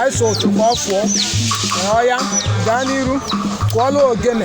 anyị so otu ka ọ fụọ ọya gaa n'iru kụọla ogene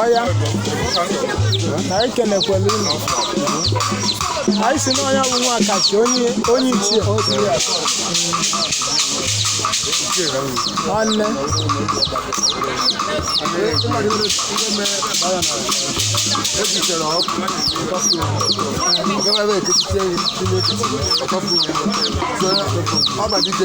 ọya na anyị kenekwala unu anyị si na ọ ya bụ nwa Akachi onye onye ichie nwanne Ọba dike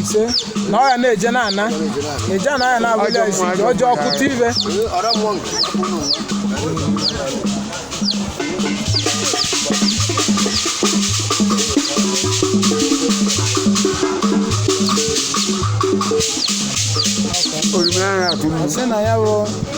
ise na ọ ya na-eje na a na-eje ana ya na-abụli ya isi ji ọjọọ ọkụta ibe Orime ahụ atụ m. sị na ya bụ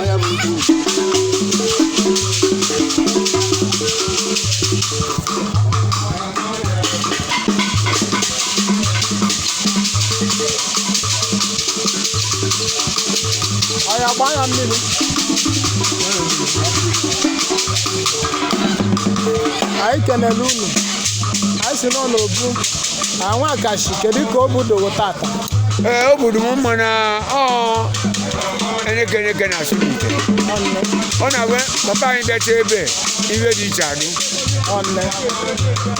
ọya bụ mkpu ọya gbaa ya mmiri anyị kenele unu anyị si na ọ bụ nwa Akashi kedu ka o budogo tata ee obodo m mma na ọ eneke eneke na asụ n'ite ọ na-agwa papa anyị bịacha ebe iwe dị iche adị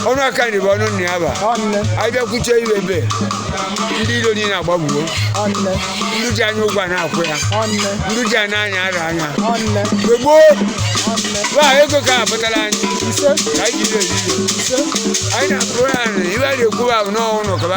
ọnụ aka nri bụ ọnụ nna ya ba anyị bịakwuche iwe ebe ndị ilo niile agbagbuo ndị ji anya ụgwọ na-akwụ ya ndị ji anya anya ara anya mgbe gboo wa ego ka apụtara anyị ka anyị jiri eriri anyị na-akụrụ ya nri ibe a na-ekwu ahụ n'ọnwụ na ọkaba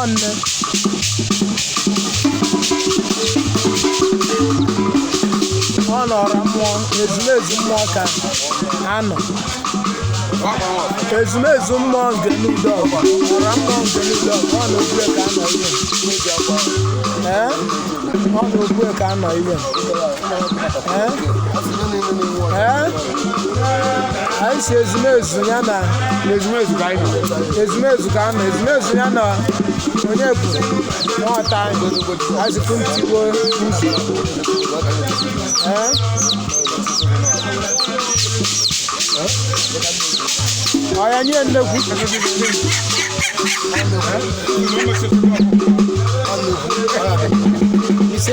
ọnne ọ nọrọ mmụọ ezumezu mmụọ ka a nọ ezumezu mmụọ Ngene Udo ọgwa ọ nọrọ mmụọ Ngene Udo ọgwa ọ na ogbue ka a nọ iwe ee ọ na ogbue ka a nọ iwe anyị sị ezumezu ya na ezumezu ka anyị nọ ezumezu ka a nọ ezumezu ya na onye bụ nwata anyị azụkwu ntigbo uzu ọya nye nnekwu ise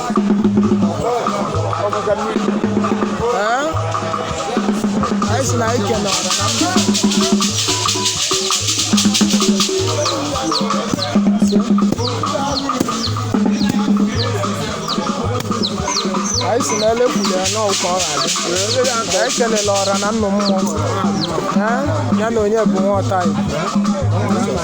anyị sị na anyị kene ọra na mba anyị sị na elekwuru ya n'ọkụ ọ ga-adị anyị kelele ọra na nnụ mmụọ ya na onye bụ nwa ọta igbo